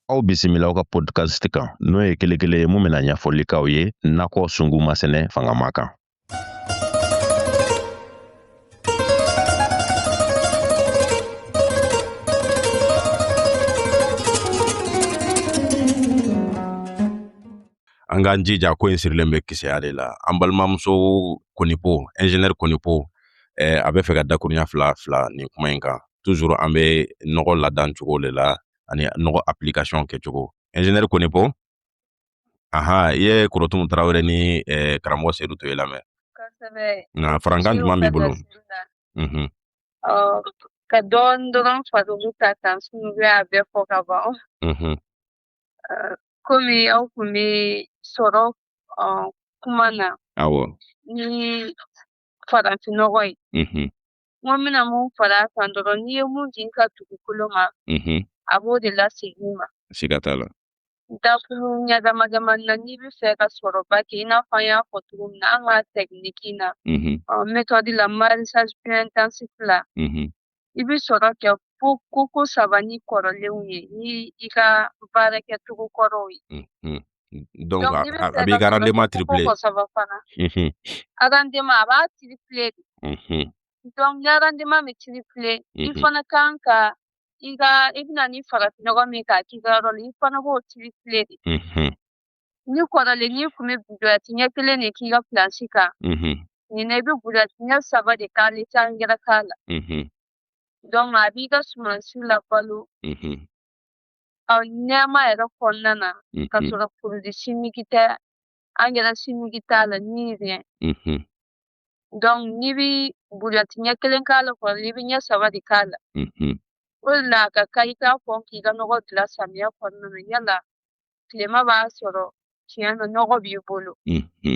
Aw bisimila aw ka podcast kan n'o ye kelekele ye mun bɛna ɲɛfɔli k'aw ye nakɔ sunguma sɛnɛ fangama kan an k'an jija ko in sirilen bɛ kisɛya de la an balimamuso konipo ingénieur konipo eh, a bɛ fɛ ka dakuruɲa fila fila nin kuma in kan toujours an bɛ nɔgɔ ladan cogo de la ani nɔgɔ application kɛcogo ingénieur konipo aha i ye korotumu tarawele ni eh, karamɔgɔ sedu toye lamɛn nka farankan jumɛn b'i bolo mhm. ka dɔɔni dɔrɔn fara olu ta kan sinon u y'a bɛɛ fɔ ka ban mhm. komi aw kun bɛ sɔrɔ kuma na awɔ ni farafinnɔgɔ ye n ko n bɛna mun fara a kan dɔrɔn n'i ye mun di i ka dugukolo ma a b'o de lasegin i ma siga t'a la dakuruɲa damadamani na n'i bɛ fɛ ka sɔrɔba kɛ i n'a fɔ an y'a fɔ cogo min na an ka tɛkiniki na metɔdi la maraîchage plus intensif la i bɛ sɔrɔ kɛ fo koko saba ni kɔrɔlenw ye ni i ka baara kɛcogo kɔrɔw ye. Mhm. Donc, a b'i ka rendement tripler. Mhm. Rendement a b'a tripler de. Mhm. Donc, ni rendement bɛ tripler, i Mhm. fana kan ka i ka i bɛ na ni farafinnɔgɔ min ye k'a k'i ka yɔrɔ la, i fana b'o tripler de. Mhm. ni kɔrɔlen n'i kun bɛ buruwɛti ɲɛ kelen de k'i ka plansi kan nin na i bɛ buruwɛti ɲɛ saba de k'a la i tɛ angɛrɛ k'a la donc a b'i ka sumansi labalo ɔ nɛɛma yɛrɛ kɔnɔna na ka sɔrɔ produit chimique tɛ angɛrɛ chimique t'a la ni rien donc n'i bɛ buruwɛti ɲɛ kelen k'a la kɔrɔlen i bɛ ɲɛ saba de k'a la o de la a ka kan i ka kɔn k'i ka nɔgɔ dilan samiya kɔnɔna na yala tilema b'a sɔrɔ tiɲɛ na nɔgɔ b'i bolo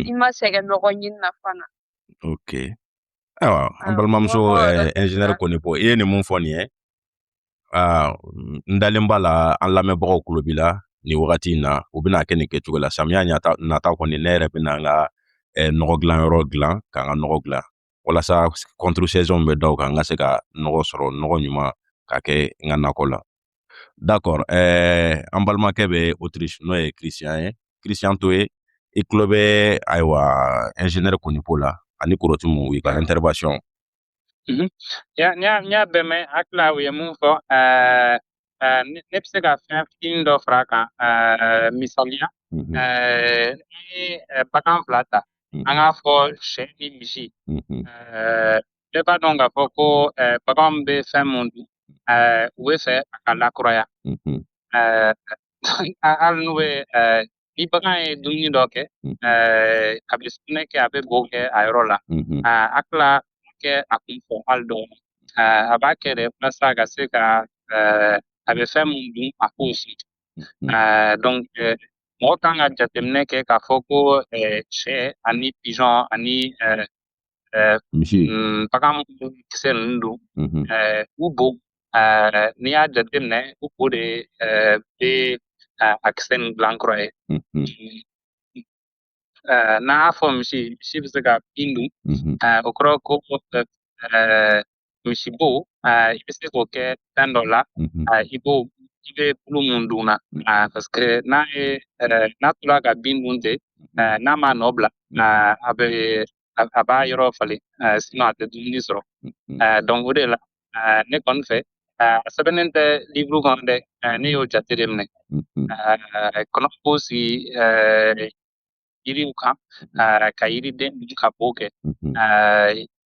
i ma sɛgɛn nɔgɔ ɲini na fana ok ayiwa an balimamuso ɛnzinɛri eh, konipo i ye nin mun fɔ nin ye ah, n dalen b'a la an lamɛnbagaw kulo b'i la nin wagati in na u bɛn'a kɛ nin kɛcogo la samiya nata kɔni ne yɛrɛ bɛna n ka eh, nɔgɔ dilanyɔrɔ dilan k'an ka nɔgɔ dilan walasa contre-saison bɛ da o kan n ka se ka nɔgɔ sɔrɔ nɔgɔ ɲuman ka kɛ n ka nakɔ la dakɔr ɛɛ an balimakɛ bɛ Autriche n'o ye kirisiyan ye kirisiyan toye i tulo bɛ ayiwa ɛnzinɛri konipo la ani korotumu u ka intervention n y'a bɛɛ mɛn hakili la u ye mun fɔ ɛɛ Ɛɛ ne ne bɛ se ka fɛn fitinin dɔ fara a kan ɛɛ misaliya Mhm, ɛɛ n'i ye ɛɛ bagan fila ta an mhm, k'a fɔ sɛ ni misi mhm, ɛɛ bɛɛ b'a dɔn k'a fɔ ko ɛɛ baganw bɛ fɛn mun dun ɛɛ u bɛ fɛ a ka lakuraya mhm, ɛɛ a- hali n'u bɛ ɛɛ Ni bagan ye dumuni dɔ kɛ a bɛ sugunɛ kɛ a bɛ bo kɛ a yɔrɔ la a tila kɛ a kun fɛ hali dɔɔni a b'a kɛ de walasa a ka se ka a bɛ fɛn min dun a k'o si donc mɔgɔ kan ka jateminɛ kɛ k'a fɔ ko sɛ ani pigeon ani ɛɛ misi mm, bagan minnu kisɛ ninnu dun mhm. ɛɛ u bo ɛɛ n'i y'a jateminɛ u bo de ɛɛ bɛ ɛɛ a kisɛ ninnu dilan kura ye mhm. ɛɛ n'an y'a fɔ misi misi bɛ se ka bin dun ɛɛ o kɔrɔ ko ɛɛ misi bo i bɛ se k'o kɛ fɛn dɔ la i b'o i bɛ bulu mun dun na parce que n'a ye n'a tora ka bin dun ten n'a m'a nɔ bila a bɛ a b'a yɔrɔ falen sinon a tɛ dumuni sɔrɔ donc o de la ne kɔni fɛ a sɛbɛnnen tɛ livre kɔnɔ dɛ ne y'o jate de minɛ kɔnɔw b'u sigi yiriw kan ka yiriden dun ka bo kɛ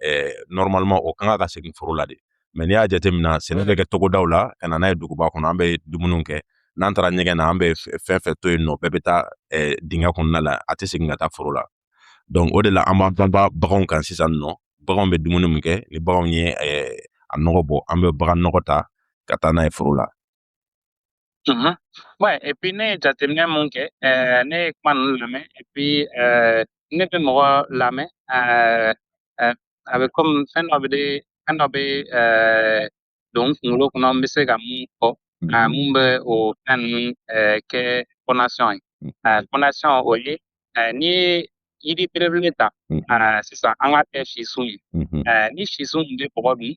eh, normalement o kan ka segin foro la de mais n'i y'a jateminɛ sɛnɛ bɛ kɛ togodaw la ka na n'a ye duguba kɔnɔ an bɛ dumuni kɛ n'an taara ɲɛgɛn na an bɛ fɛn fɛn to yen nɔ bɛɛ bɛ taa eh, dingɛ kɔnɔna la a tɛ segin ka taa foro la donc o de la an b'an banba baganw kan sisan nɔ baganw bɛ dumuni min kɛ ni baganw ye eh, a nɔgɔ bɔ an bɛ bagan nɔgɔ ta ka taa n'a ye foro la Mhm. Ouais, et puis ne ye jateminɛ mun kɛ ɛɛ ne ye kuma ninnu lamɛn et puis ɛɛ ne bɛ mɔgɔ lamɛn ɛɛ ɛɛ a bɛ komi fɛn dɔ bɛ de fɛn dɔ bɛ ɛɛ don n kunkolo kɔnɔ n bɛ se ka mun fɔ ɛɛ mun bɛ o fɛn ninnu ɛɛ kɛ fondation ye ɛɛ fondation o ye n'i ye yiri belebele ta sisan an k'a kɛ sisun ye ni sisun tun bɛ bɔgɔ dun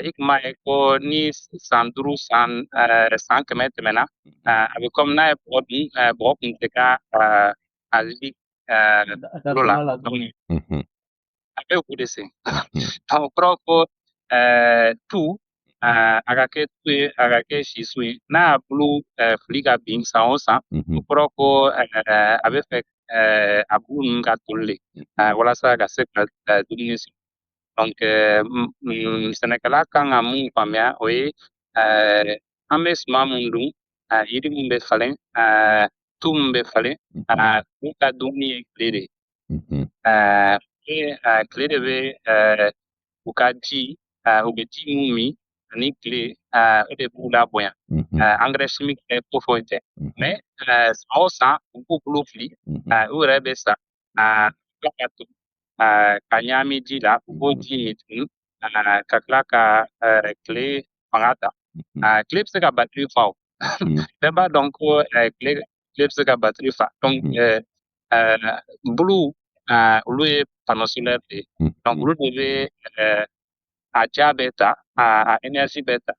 i tun b'a ye ko ni san duuru san san kɛmɛ tɛmɛna a bɛ kɔmi n'a ye bɔgɔ dun bɔgɔ tun tɛ ka a lili bolo la a bɛ o de sen donc o kɔrɔ ko ɛɛ tu ɛɛ a ka kɛ tu ye a ka kɛ sisun ye n'a y'a bulu ɛɛ fili ka bin san o san o kɔrɔ ko ɛɛ a bɛ fɛ ɛɛ a bulu ninnu ka toli de ɛɛ walasa ka se ka ɛɛ dumuni sigi donc ɛɛ sɛnɛkɛla kan ka mun faamuya o ye ɛɛ an bɛ suman mun dun ɛɛ yiri mun bɛ falen ɛɛ tu mun bɛ falen ɛɛ u ka dumuni ye tile de ye Mhm. Eh, ke eh, kile de bɛ eh, u ka ji eh, u bɛ ji mun min ani kile eh, o de b'u labonya Mhm. eh, engrais chimique tɛ ko foyi tɛ Mhm. mais eh, san o san u b'u bulu fili Mhm. eh, u yɛrɛ bɛ sa eh, tila ka toli eh, ka ɲagami ji la u b'o ji min tuguni eh, ka tila ka eh, kile fanga ta Mhm. eh, kile bɛ se ka batiri fa o Mhm. bɛɛ b'a dɔn ko eh, kile kile bɛ se ka batiri fa donc Mhm. eh, ɛɛ bulu ɛɛ olu ye panneau solaire de ye hmm. donc olu de bɛ ɛɛ a ja bɛ ta a a énergie bɛ ta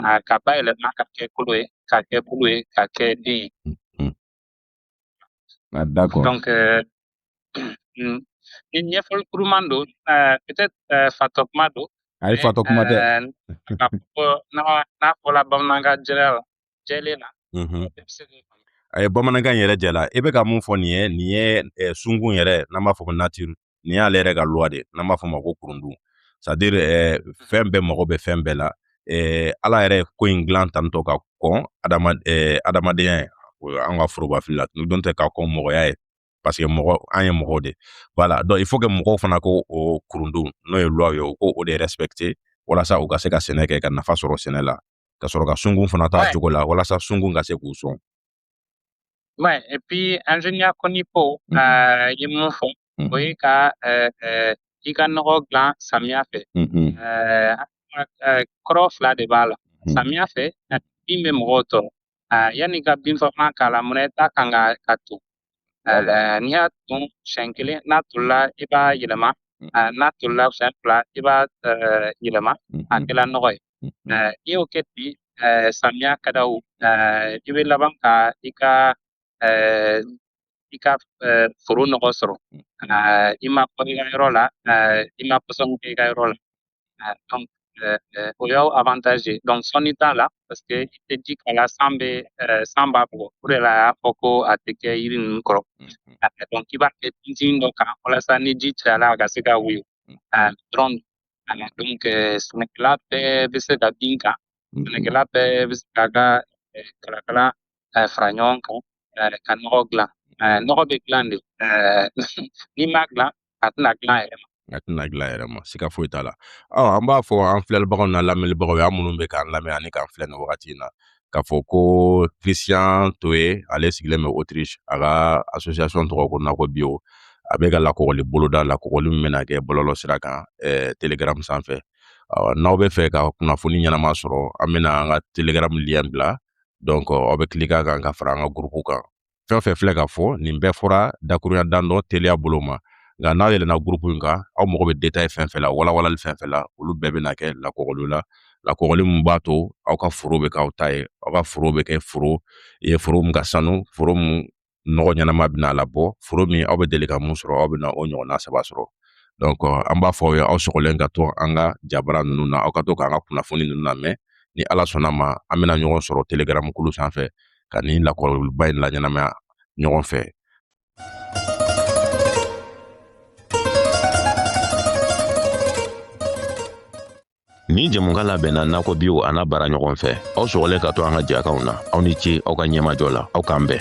a ka bayɛlɛma ka kɛ kolo ye ka kɛ bulu ye ka kɛ den ye. Hmm, hmm. Ah, d'accord. donc ɛɛ ni ɲɛfɔli kuruman don ɛɛ peut-être ɛɛ fatɔ kuma don. ayi fatɔ kuma tɛ. n'a fɔra bamanankan jɛya la. jɛlen na bɛɛ bɛ se k'o faamu a ye bamanankan yɛrɛ jɛla i bɛ ka mun fɔ nin ye nin ye eh, sunkun yɛrɛ n'an b'a fɔ ko nature nin y'ale yɛrɛ ka loi de ye n'an b'a fɔ ma ko kurundun c'est à dire eh, fɛn bɛɛ mago bɛ fɛn bɛɛ la eh, ala yɛrɛ ko in dilan tantɔ ka kɔn adama eh, adamadenya ye o ye an ka forobafili la don tɛ ka kɔn mɔgɔya ye parce que mɔgɔ an ye mɔgɔw de voilà donc il faut que mɔgɔw fana k'o kurundun n'o ye loi ye u k'o de respecter walasa u ka se ka sɛnɛ kɛ ka nafa sɔrɔ sɛnɛ la ka sɔrɔ ka sunkun fana t'a ouais. cogo la walasa sunkun ka se k'u sɔn ouais et puis ingénieur konipo mm -hmm. euh, ye mun fɔ mm -hmm. o ye ka euh, euh, i ka nɔgɔ dilan samiya fɛ mm -hmm. euh, kɔrɔ fila de b'a la samiya fɛ bin bɛ mɔgɔw tɔɔrɔ Aa yanni ka binfagalan k'a la munna i t'a kan ka k'a ton n'i y'a ton siɲɛ kelen n'a tolila i b'a yɛlɛma n'a tolila siɲɛ fila i b'a yɛlɛma a kɛla nɔgɔ ye i y'o kɛ ten samiya ka da o i bɛ laban ka i ka i ka eh, foro nɔgɔ sɔrɔ eh, i ma kɔri i ka yɔrɔ la eh, i ma pɔsɔni kɛ i ka yɔrɔ la donc o y'aw avantage ye donc sɔnni t'a la parce que i tɛ ji k'a la san bɛ san b'a bugɔ o de la a y'a fɔ ko a tɛ kɛ yiri ninnu kɔrɔ mm-hmm. donc i b'a kɛ tintin dɔ kan walasa ni ji cayala a ka se ka woyo mm-hmm. dɔrɔn voilà donc sɛnɛkɛla bɛɛ bɛ se ka bin kan sɛnɛkɛla bɛɛ bɛ se k'a ka kalakala k'a fara ɲɔgɔn kan eh, ka nɔgɔ dilan eh, nɔgɔ bɛ dilan de eh, n'i m'a dilan a tɛna dilan yɛrɛ ma a tɛna dilan yɛrɛ ma siga foyi t'a la ɔ an b'a fɔ an filɛlibagaw n'an lamɛnnibagaw ye an minnu bɛ k'an lamɛn ani k'an filɛ nin wagati in na k'a fɔ ko christian toye ale sigilen bɛ autriche a ka association tɔgɔ ko nakɔ bio a bɛ ka lakɔgɔli boloda lakɔgɔli min bɛna kɛ bɔlɔlɔ sira kan eh, telegram sanfɛ n'aw bɛ fɛ ka kunnafoni ɲɛnama sɔrɔ an bɛna an ka telegram lien bila donc aw bɛ cliquer a kan ka fara an ka gurupu kan fɛn o fɛn filɛ ka fɔ nin bɛɛ fɔra dakurunya dan dɔ teliya bolo ma nka n'a yɛlɛnna gurupu in kan aw mago bɛ detaye fɛn fɛn la walawalali fɛn fɛn la olu bɛɛ bɛna kɛ lakɔgɔli la lakɔgɔli min b'a to aw ka foro bɛ k'aw ta ye aw ka foro bɛ kɛ foro ye foro min ka sanu foro min nɔgɔ ɲɛnama bɛna labɔ foro min aw bɛ deli ka mun sɔrɔ aw bɛna o ɲɔgɔnna saba sɔrɔ donc euh, an b'a fɔ aw ye aw sɔgɔlen ka to an ka jabara ninnu na aw ka to k'an ka kunnafoni ninnu lamɛn ni ala sɔnna ma an bɛna ɲɔgɔn sɔrɔ telegram kulu sanfɛ ka nin lakɔgɔliba in laɲɛnamaya ɲɔgɔn fɛ Nin jɛmukan labɛnna Nakɔ Bio an'a baaraɲɔgɔn fɛ aw sɔgɔlen ka to an ka jɛkanw na aw ni ce aw ka ɲɛmajɔ la aw k'an bɛn